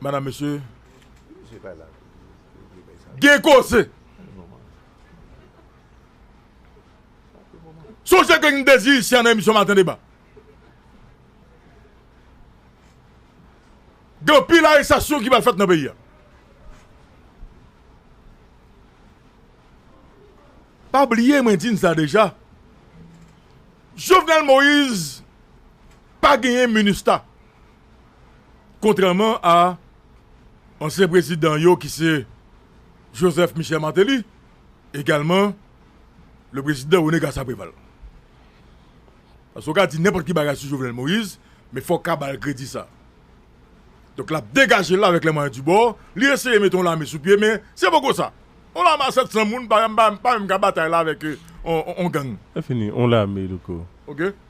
Madam mesye gen koze. Sonje ke gen dezi isyan nan emisyon maten deba. Gen anpil arestasyon ki pral fèt nan peyi a. Pa bliye mwen di n sa deja. Jovenel Moise pa genyen minustah. Kontrèman a ansyen prezidan yo ki se Joseph Michel Martelly, egalman le prezidan René Garcia Préval. Paske ou ka di nenpòt ki bagay sou Jovenel Moïse, men fò w ka ba l kredi sa. Donk l ap degaje l avèk lè mwayen di bò, li eseye mete yon lame sou pye men se poko sa. Yon lame a 700 moun pa menm ka batay la avèk yon gang. Lè fini, yon lame louko. Ok.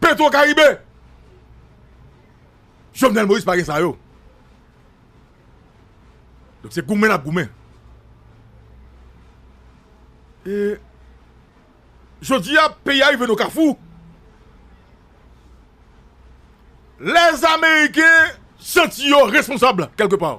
Petro karibe. Jovenel Moïse pa gen sa yo. Donk se goumen nap goumen. E jodi a peyi a rive nan kafou. Les ameriken santi yo responsab kelke pa.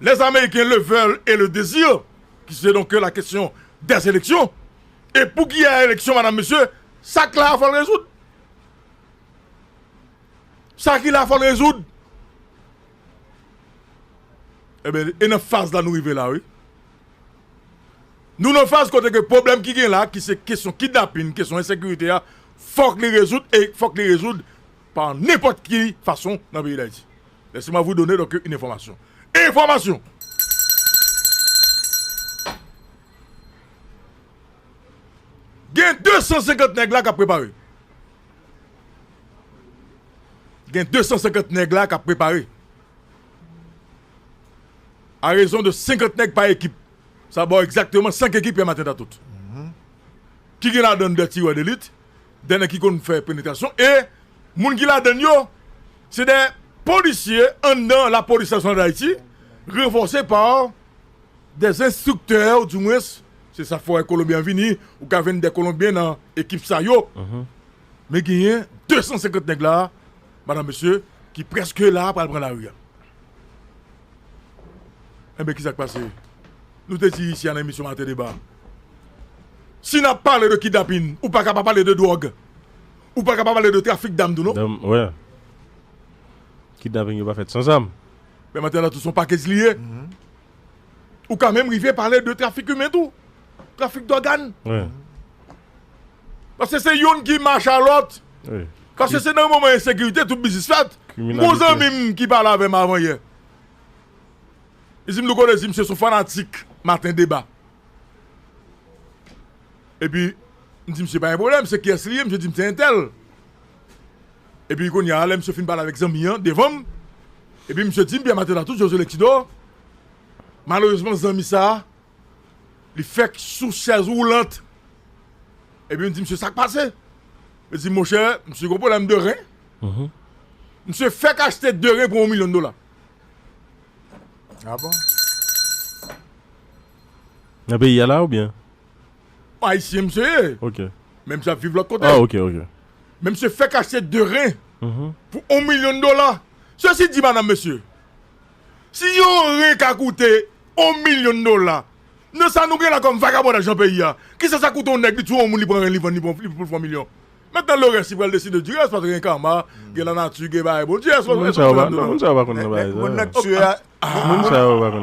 les Américains le veulent et le désirent, ki se donke la kesyon des eleksyon, e pou ki a eleksyon madam mesye, sa k la a fò l rezoud, sa ki la a fò l rezoud, eben e nan faz la nou rive la wi, nou nan faz kote ke pwoblèm ki gen la ki se kesyon kidnapin, kesyon ensekirite a fò k li rezoud e fò k li rezoud pa nenpòt ki fason nan peyi Dayiti. Laissez-moi vous donner donc une information. Enfòmasyon! Gen 250 nèg la k ap prepare. Gen 250 nèg la k ap prepare. A rezon de 50 nèg pa ekip. Sa ba w egzakteman 5 ekip Pierre Martin Datoute. Ki gen ladan 2 tirè delit. dè nèg ki konn fè penetrasyon e moun ki ladann yo se dè polisye anndan lapolis nasyonal dayiti ranfòse pa dè enstriktè ou di mwens se sa fè kolonbyen vini ou ka jwenn dè kolonbyen nan ekip sa yo men genyen 250 nèg la madan mesye ki prèske la pral pran lari a enben ki sak pase. Nou te di isi a nan emisyon Maten Deba a, si n ap pale de kidnapin, ou pa ka pa pale de dwòg, ou pa ka pa pale de trafik dam tou non. Dam, wè. Kidnapin yo pa fèt san zam. Men Maten la tou son pakej li ye. Ou ka menm rive pale de trafik imen tou, trafik dògàn. Wè. Paske se youn ki mache a lòt. Wè. Paske se nan moman ensekirite tout biznis fèt. Kriminalite. M gen yon zanmi m ki pale avè m avan yè. Izim nou konnen izim se son fanatik maten deba epi m di misye pa gen pwoblèm se kiyès li ye misye di m se entèl epi kounye a lè misye fin pale avèk zanmi an devan m epi misye di m Pierre Matela tout Josué Lexidor malerezman zanmi sa li fèk sou chèz woulant epi m di misye sak pase li di m monchè misye gen pwoblèm de ren misye fèk achte de ren pou yon milyon dola Ah bon? Nan peyi ya la ou byen? Ayisyen msye ye. Ok. Men msye ap viv lòt kote. Ah ok ok. Men msye fèk achte 2 ren mm-hmm. pou 1 milyon dola. Sesi di madanm mesye, si yon ren ka koute 1 milyon dola, nan sa nou gen la kòm vagabondaj nan peyi ya, kisa sa koute yon nèg li touye yon moun li pran ren li vann li pou l fè 1 milyon? Maintenant le reste li pral deside du reste paske gen karma, gen la nature, gen bagay Bondye. Èske w konprann sa? Non, moun sa yo pa konn nan bagay sa yo. Moun nan k tue a,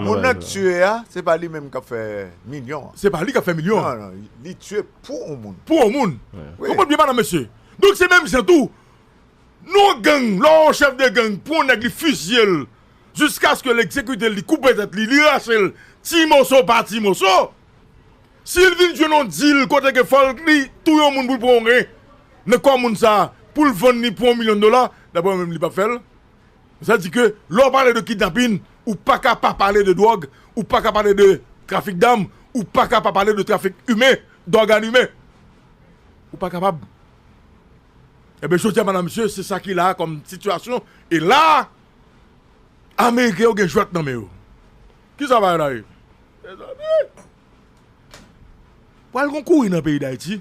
moun nan k tue a, se pa li menm k ap fè milyon an. Se pa li k ap fè milyon an. Non, non, li tue pou on moun. Pou on moun. Konprann byen madam mesye. Donk se menm jan tou, nou on gang, lè on chèf de gang pran on nèg li fizye l jiskaske l egzekite l, li koupe tèt li, li rache l ti moso pa ti moso, Si l vin jwenn yon dil kote ke fò l li touye yon moun pou l pran yon ren nan kò moun sa a pou l vann li pou yon milyon dola, daprè mwen menm li p ap fè l. Sa di ke lè w pale de kidnapin, ou pa ka pa pale de dwòg, ou pa ka pale de trafik dam, ou pa ka pa pale de trafik imen, dògàn imen. Ou pa kapab. Enben jodi a madam mesye se sa ki la a kòm sitiyasyon e la a ameriken yo gen jwèt nan men yo. Kisa bagay la ye? Mezanmi! Pral gon kouri nan peyi dayiti.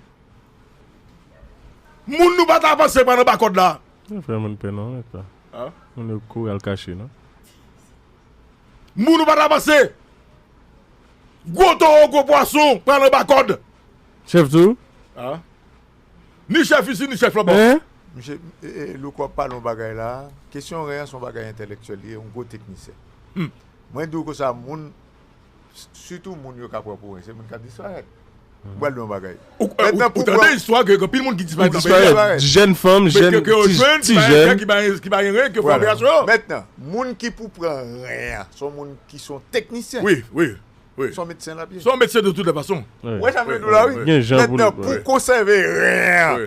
Moun nou pata panse pa nan ba kòd la. Yo fè moun pè non rèk la. Moun yo kouri al kache non. Moun nou pata panse. Gwo towo gwo pwason pral anba kòd. Chèf tou. Ni chèf isi ni chèf lòbò. Misye Louko ap pale yon bagay la. Kesyon ren an se yon bagay entèlektyèl li ye, yon gwo teknisyen. Mwen di w konsa moun. Sitou moun yo ka pran pou wen se moun k ap disparèt. M pral di w yon bagay. Ou tande istwa ke gen anpil moun ki disparèt nan peyi a. Jèn fanm, jèn, ti jèn. Ke yo jwenn, ki pa gen kè, ki pa gen ren, ki yo fè operasyon yo. Mètnan, moun ki pou pran ren an, se yon moun ki se yon teknisyen. Wi, wi, wi. Se yon medsen l ap ye. Se yon medsen de tout lè fason. Ou wè sa m vle di w la wi? Gen jan pou l. Mètnan, pou konsève ren an,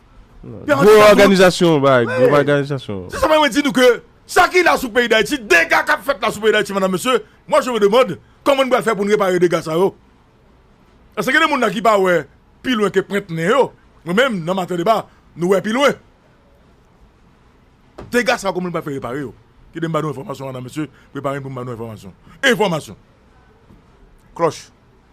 Gwo òganizasyon bay, gwo òganizasyon. Se sa mwen mwen di nou ke, sa ki la sou peyi Dayiti, dega kap fèt la sou peyi Dayiti madam mesye, mwa je me demand, kòman nou pral fè pou nou repare dega sa yo? Eske gen de moun la ki pa wè pi lwen ke pwent nen yo? Mwen menm nan maten deba, nou wè pi lwen. Dega sa yo kòman nou pral fè repare yo? Kite m ba nou enfòmasyon madam mesye, prepare n pou m ba nou enfòmasyon. Enfòmasyon! Klòch!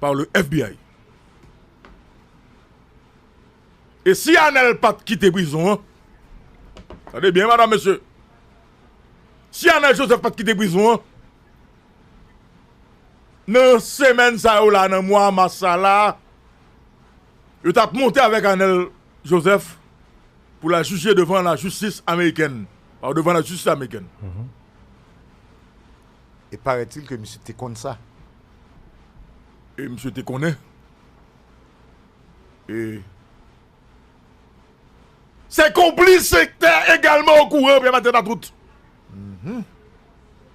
par le FBI. E si Anèl pat kite prizon an, tande byen madam mesye, si Anèl Joseph pat kite prizon an, nan semèn sa yo la, nan mwa mas sa la, yo tap monte avèk Anèl Joseph pou la jije devan la jistis amerikèn, devan la jistis amerikèn. e parètil ke misye te konn sa. E misye te konnen. E. Se konplis sektè egalman okouran Pierre Martel Matout.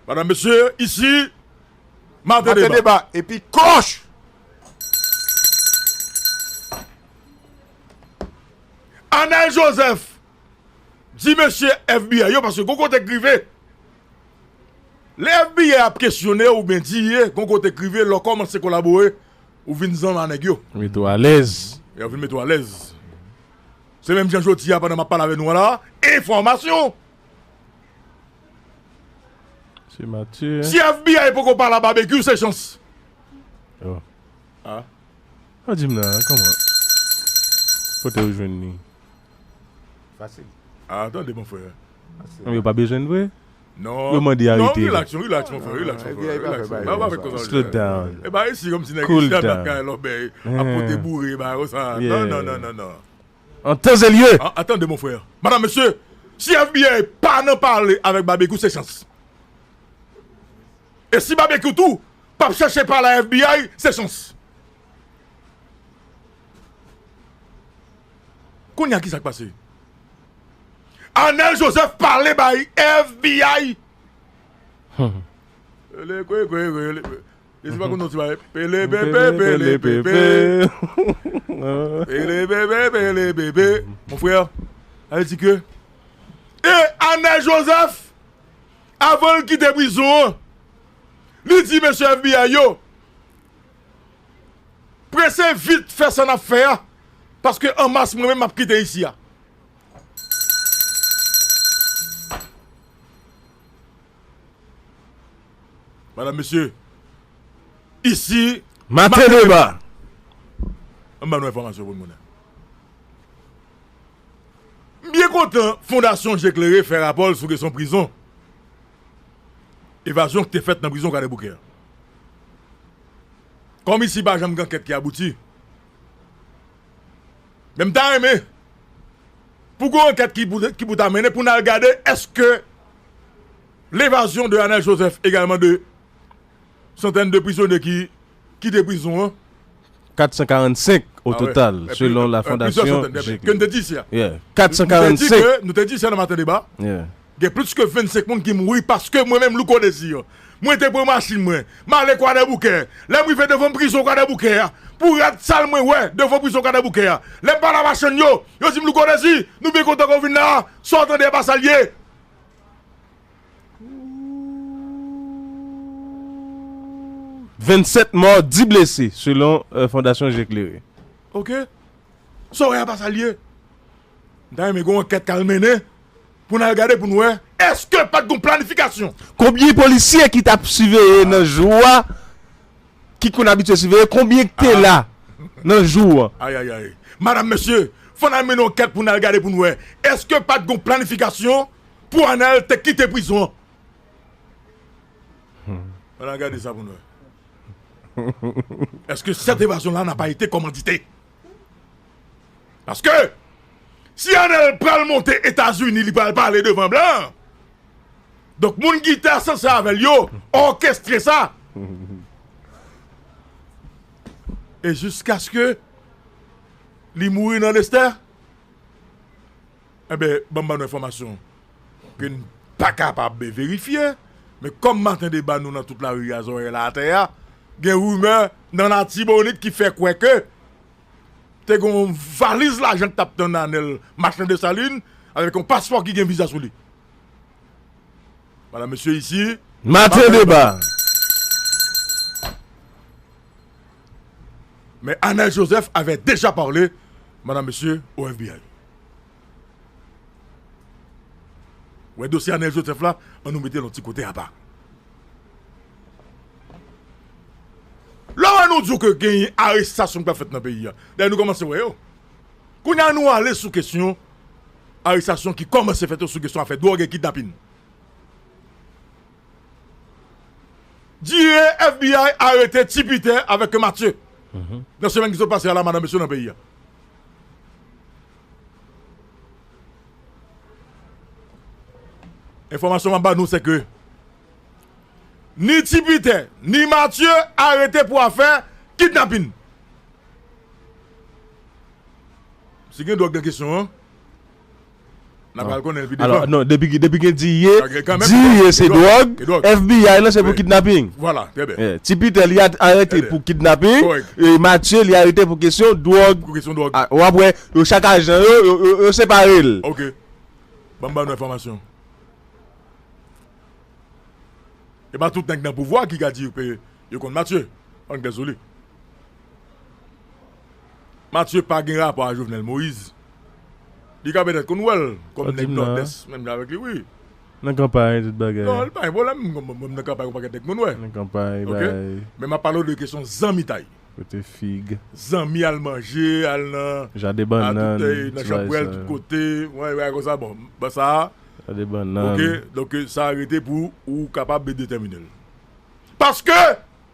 Madam mesye, isi Mate Deba. Mate Deba, epi koch! Anèl Joseph. Di mesye FBI yo paske gon kote k rive lè FBI ap kesyone ou byen di ye gon kote k rive lè w kòmanse kolabore ou vin zanmi a nèg yo. Mete w alèz. Yo vin mete w alèz. Se menm jan jodi a pandan m ap pale avè nou an la enfòmasyon. Se Mathieu hein. Si FBI poko pale a Babekyou se chans. Oh. Ah. Ou di m nan kòman. Kote ou jwenn li. Fasil. Ah tande mon frère. Fasil. Yo pa bezwen l vre? Non. Yo mande arete. Non relax non relax mon frère relax mon frère. Relax. Ba pa fè koz. Slow down. E ba resi kom si nèg ki ap nan kay lòbèy ap pote boure ba yo sa. Non non non non non. An tan e lye. Ah tande mon frère. Madame mesye si FBI pa nan pale avèk Babekyou se chans. E si Babekyou tou pap chache pale a FBI se chans. Konya ki sak pase? Anel Joseph pale bay FBI. Pele kwe kwe pele pe. Desi pa konon ti bay. Pele pe pe pele pe pe. Pele pe pe pele pe pe. Mon frère, ale di ke e Anel Joseph avan l kite prizon an, li di mesye FBI yo, Prese vit fè sa nap fè a paske an mas mwen menm map kite isi a. Madam mesye isi mate deba. An ban nou enfòmasyon pou nou konnen. M byen kontan fondasyon je klere fè rapò l sou kesyon prizon. evazyon k te fèt nan prizon Kwadèboukè an. Kòm isi pa janm gen ankèt ki abouti, men m ta renmen pou gen yon ankèt ki pou ta mennen pou n al gade èske levazyon de Anèl Jozèf egalman de santèn de prizonye ki kite prizon an. 445 o total, selon la fondasyon Jekle. Ke n te di isi a. Yeah, 445. Nou te di isi a nan Maten Deba. Yeah. Gen plis ke 25 moun ki mouri paske mwen menm Louko Desir, mwen te pran machin mwen, m ale Kwadèboukè. Lè m rive devan prizon Kwadèboukè a, pou rad sal mwen wè devan prizon Kwadèboukè a, lè m pale a machann yo, yo di m Louko Desir, nou byen kontan ke w vin la a, sa w tande a pa sa l ye. 27 mò, 10 blese, selon Fondasyon Je Klere. Ok. Sa w wè a pa sa l ye? M ta renmen gen yon ankèt k al mennen pou n al gade pou n wè èske pa t gen yon planifikasyon. Konbyen polisye ki t ap siveye nan jou a, ki konn abitye siveye, konbyen ki te la nan jou an? Ayayayy. Madam, mesye, fò n al mennen ankèt pou n al gade pou n wè èske pa t gen yon planifikasyon. Pou anal te kite prizon an. An al gade sa pou nou wè. Eske sèt evazyon la na pa ete komandite. Paske si anal pral monte etazini li pral pale devan blan. Donk moun ki te asanse avèl yo òkestre sa. E jiskaske li mouri nan lestè. Enben, ban m ba nou enfòmasyon ke n pa kapab verifye, men kòm maten deba nou nan tout lari a, zòrèy la atè a, gen rimè nan Latibonit ki fè kwè ke te gen yon valiz lajan ki t ap tann Anèl Machan Desalin avèk yon paspò ki gen viza sou li. Madam, mesye, isi. Maten deba! Men Anel Joseph avè deja parle Madame Mesye au FBI. Wè dosye Anel Joseph la an nou metel yon ti kote apa. Lè wè nou di w ke genyen arestasyon ki pral fèt nan peyi a. Dayè nou kòmanse wè yo. Kounye a nou ale sou kesyon arestasyon ki kòmanse fèt yo sou kesyon afè dwòg e kidnapin. Jire FBI arete Ti Piter avek ke Matye nan semen ki sot pase a la madan mesye nan peyi a. Enfomasyon map ba nou se ke ni Ti Piter ni Matye arete pou afe kidnapin. Si gen dwog nan kesyon an. N apral konnen l pi devan. Alò, non, depi gen diye, diye se dwòg, FBI lan se pou kidnaping. Vwala, trè byen. Ti Pitè li arete pou kidnaping. Kòrèk. E Matye li arete pou kesyon dwòg. Pou kesyon dwòg. A, w ap wè, yo chak ajan yo, yo separe l. Ok. Ban m ba nou enfòmasyon. E pa tout nèg nan pouvwa ki ka di yo konn Matye. An gen sou li. Mathieu pa gen rapò a Jovenel Moïse. Li ka pètèt konn wèl kòm nèg Nòdès menm jan avèk li wi. Nan kanpay tout bagay. Non li pa gen pwoblèm mwen nan kanpay gon pakèt nèg mwen wè. Nan kanpay bay. Men map pale w de kesyon zanmitay. Kote fig. Zanmi al manje al nan. Jaden bannan. A tout èy nan chanpwèl tout kote ou wè bagay konsa bon ba sa. Jaden bannan. Ok donk sa rete pou ou kapab detèmine l. Paske.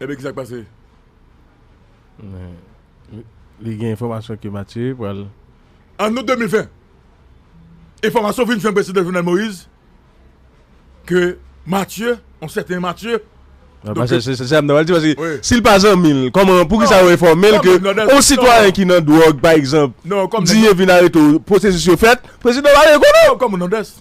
Ebyen kisa k pase? Li gen enfòmasyon ke Matye pral. An out 2020, enfòmasyon vin jwenn Prezidan Jovenel Moïse ke Matye, yon sèten Matye. Mwen pa chèche, se sa m ta pral di paske si l pa zanmi l, kòman, poukisa yo enfòme l ke yon sitwayen ki nan dwòg pa egzanp, di yo vin arete w, pwosesis yo fèt, Prezidan pa dwe konnen. Kòm Nandès.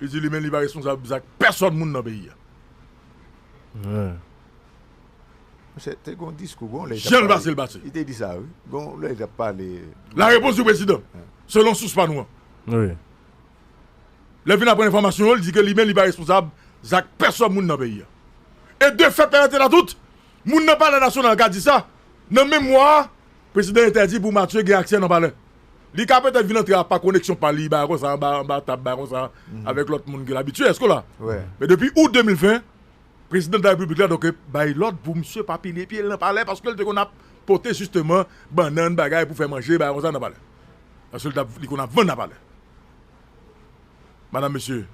Li di li menm li pa responsab zak pèsòn moun nan peyi a. Misye te gen yon diskou gon lè. Jan l pase l pase. Li te di sa wi. Gon lè li t ap pale. La repons di prezidan. Selon sous pa nou an. Wi. Lè l fin aprann enfòmasyon yo, li di ke li menm li pa responsab zak pèsòn moun nan peyi a. E de fèt la nèt e la tout, moun nan palè nasyonal ka di sa, nan menm mwa a, prezidan entèdi pou Matye gen aksè nan palè. Li ka petèt vin antre a pa koneksyon pa li bagay konsa anba anba tab bagay konsa avèk lòt moun ke l abitye èske w la? Men depi Out 2020 Prezidan dela Repiblik la donk bay lòd pou misye pa pile pye l nan palè paske l te konn ap pote jisteman bannann bagay pou fè manje bagay konsa nan palè paske l ta li konn ap vann nan palè Madam Mesye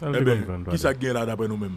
Enben kisa k gen la daprè nou menm?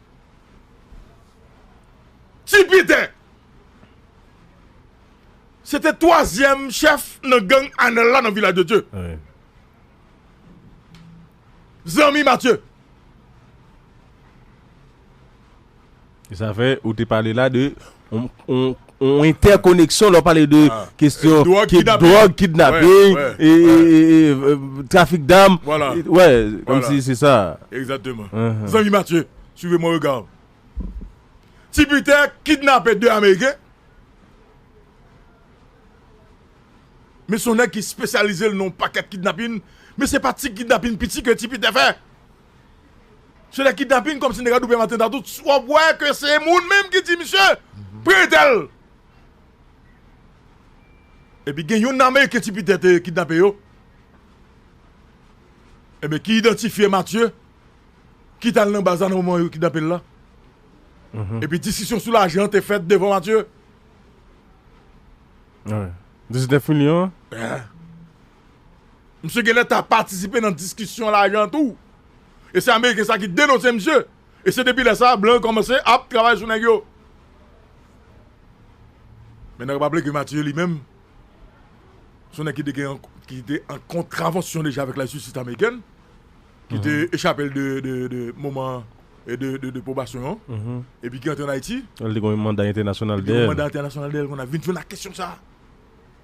Ti Pete! Se te twazyèm chèf nan gang Anèl la nan Vilaj de Dye. Zanmi Matye. Sa fè ou te pale la de On entèkoneksyon lè w pale de kestyon dròg, kidnaping, trafik dam. Vwala. Wè, kòm si se sa. Egzakteman. Zanmi Matye, swive mwen rega. Ti Pitè kidnape 2 ameriken. Men son nèg ki spesyalize l nan on pakèt kidnaping. Men se pa ti kidnaping piti ke Ti Pitè fè. Se de kidnaping kòmsi nèg la doublem atenta tout wap wè ke se moun menm ki di misye pretel. Epi gen youn nan ameriken ti pitè te kidnape yo Ebyen ki idantifye Matye ki tal nan baz la nan moman yo kidnapel la epi diskisyon sou lajan te fèt devan Matye. 19 milyon an? Misye genlè ta patisipe nan diskisyon lajan tou. E se ameriken sa ki denonse misye. E se depi lè sa a blan yo kòmanse ap travay sou nèg yo. Men nap raple ke Mathieu li menm se yon nèg ki te an kontravansyon deja avèk la jistis amerikèn. Ki te echape l de moman de pwobasyon an. E pi ki antre an Ayiti. Li te gen yon manda entènasyonal dèyè l. Li te gen yon manda entènasyonal dèyè l. Vin jwenn ak kesyon sa a.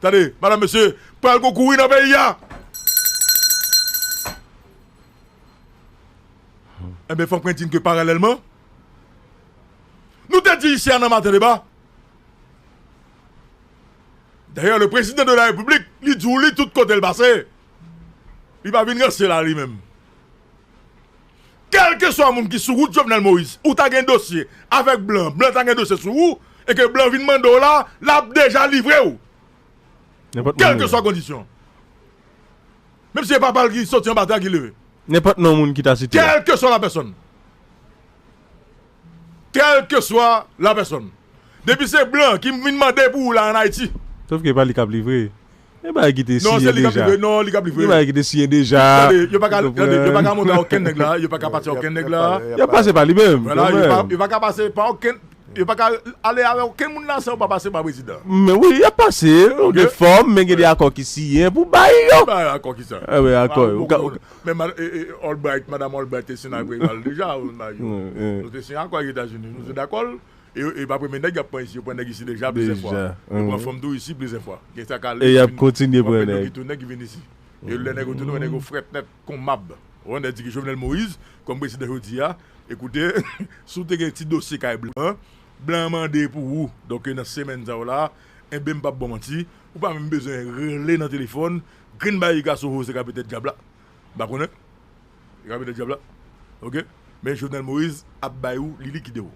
Tande, madam mesye, pral gon kouri nan peyi a! Enben, fòk mwen di n ke paralèlman, nou te di ici a nan Maten Deba, dayè le prezidan de la repiblik li di w li tout kote l pase, li pa vin ranse la li menm. Kèlkeswa moun ki sou wout Jovenel Moïse ou ta gen dosye avèk blan, blan ta gen dosye sou ou e ke blan vin mande w la, l ap deja livre w. Nenpòt moun. Kèlkeswa kondisyon. Menm si se papa l ki soti anba tè a ki leve. Nenpòt non moun ki ta site a. Kèlkeswa lapèsòn. Kèlkeswa la pèsòn. Depi se blan ki vin mande pou ou la an Ayiti. Sof ke e pa li kap livre. Gen bagay ki te Non se siyen li kap deja. livre non li kap livre. Gen bagay ki te siyen deja. Tande yo pa ka Ou tande yo pa konprann? ka monte a okenn nèg la yo pa ka pase a okenn nèg la. Yap pase pa li menm Vwala yo pa kanmenm. yo pa ka pase pa okenn yo pa ka ale avè okenn moun la san yo pa pase pa prezidan. Men wi yap pase Ok gen fòm men gen de ok. akò ki siyen pou bay yo. Ki bay akò kisa? Ebe Ba akò ou yo ou bon ka ou moun. ka Men Albright, Madam Albright te siyen avèk al deja ou nan yo. Nou te siyen akò ak Etazini. Nou te dakòl. E pa premye nèg yap pran isi. Yo pran nèg isi deja plizyè fwa. Yo pran fanm tou isi plizyè fwa. Gen sa kale. E yap kontinye pran nèg. Yo ki tounen ki vin isi. E lè nèg yo tounen, nèg yo frèt nèt kon mab. Ou wè nèg di ki Jovenel Moïse kòm prezidan jodi a. Ekoute, si ou te gen ti dosye kay blan, blan an mande pou ou. Donk nan semèn sa ou la, enben m pap baw manti, ou pa menm bezwen rele nan telefòn Grenn barik a soho se kape tèt dyab la m pa konnen se kape tèt dyab la ok men Jovenel Moïse ap bay ou li likide ou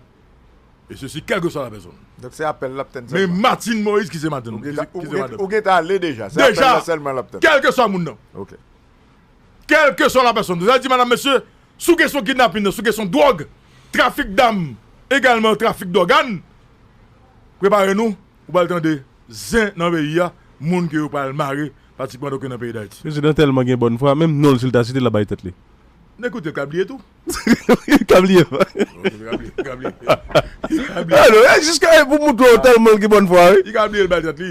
e sesi kèlkeswa la pèsonn Donk se apèl lap tann sèlman. Men Martine Moise ki se madanm Ou gentan ki se madanm ou gentan ale deja se apèl la sèlman lap tann. Deja kèlkeswa moun nan ok kèlkeswa la pèsonn se sa l di madame mesye sou kesyon kidnapin nan sou kesyon dwòg trafik dam egalman trafik dògàn prepare nou Ou pral tande zen nan peyi a moun ke yo pral mare pratikman doken nan peyi dayiti. Mesye dan telman gen bòn fwa menm nonl sil ta site lap bay tèt li. N ekoute l ka bliye tou. Ka bliye vre. Ka bliye. Jiska e pou moutre w telman l gen bòn fwa wi. Li ka bliye l bay tèt li.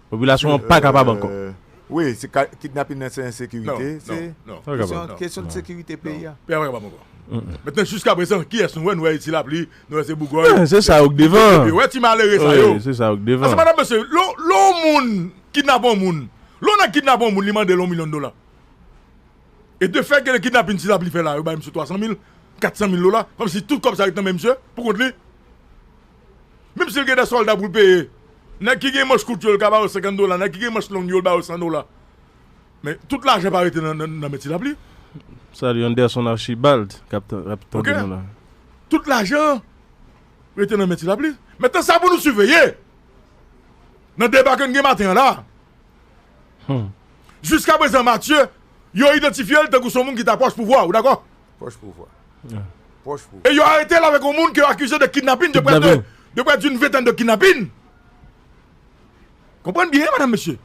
Popilasyon an pa kapab ankò. Wi, se kidnapin nan se ensekirite, se kesyon de sekirite peyi a. Peyi a pa kapab ankò. Mètnen jiska prezan kiyès nou wè, nou wè ti lapli, nou wè se bougòy. Se sa yo k devan. Epi wè ti malere sa yo. Se sa yo k devan. Ase madam mesye, lè yon moun kidnape yon moun, lè yon nèg kidnape yon moun li mande l yon milyon dola. E de fè gen kidnapin ti lapli fè la, yo bay misye 300 mil, 400 mil dola, kòmsi tout kòb sa ret nan men misye, pou kont li. Menm si l gen de sòlda pou l peye, nèg ki gen manch kout yo l ka ba yo 50 dola, nèg ki gen manch long yo l ba yo 100 dola. Men tout lajan pa rete nan men ti lapli. Salut Anderson Archibald kap tande nou la. Tout lajan rete nan men ti lapli. Metan sa pou nou siveye nan deba ke n gen maten an la. Jiska prezan Mathieu yo idantifye l tankou son moun ki ta pwòch pouvwa, ou dakò? E yo aretel avèk yon moun ke yo akize de kidnapin de près de près d'une ventèn de kidnapin. Konprann byen madam mesye.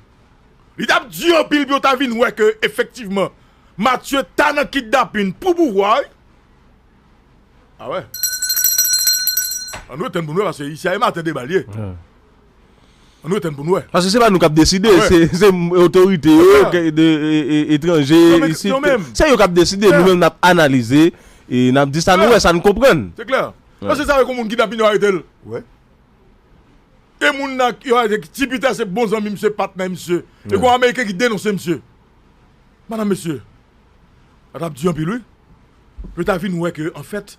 Li tap di anpil pou yo ta vin wè ke efektivman Mathieu ta nan kidnapin pou pouvwa wi. A wè. An nou etenn pou nou wè paske isi a e maten deba li ye. An nou etann pou nou wè. Paske se pa nou kap deside, se otorite yo, etranje, isit, se yo kap deside, nou menm nap analize, e nap di sa nou wè, sa nou konprann. Se klè. Paske sa wè kon moun kidnapin yo arete l. Wè. E moun nan yo arete ki ti pita se bon zanmi misye, patnè misye. E kon ameriken ki denonse misye. Madam mesye. Sa tap di anpil wi. Yo ta vin wè ke anfèt.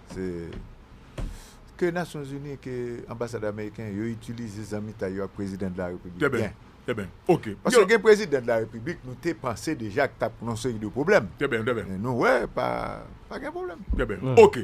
Se ke nasyon zini ke anbasad ameriken yo itilize zanmitay yo ak prezidan de la repiblik byen. Trè byen. Ok. Paske gen prezidan de la repiblik nou te panse deja k tap yon seri de pwoblèm. Trè byen, trè byen. Men nou wè pa pa gen pwoblèm. Trè byen. Ok.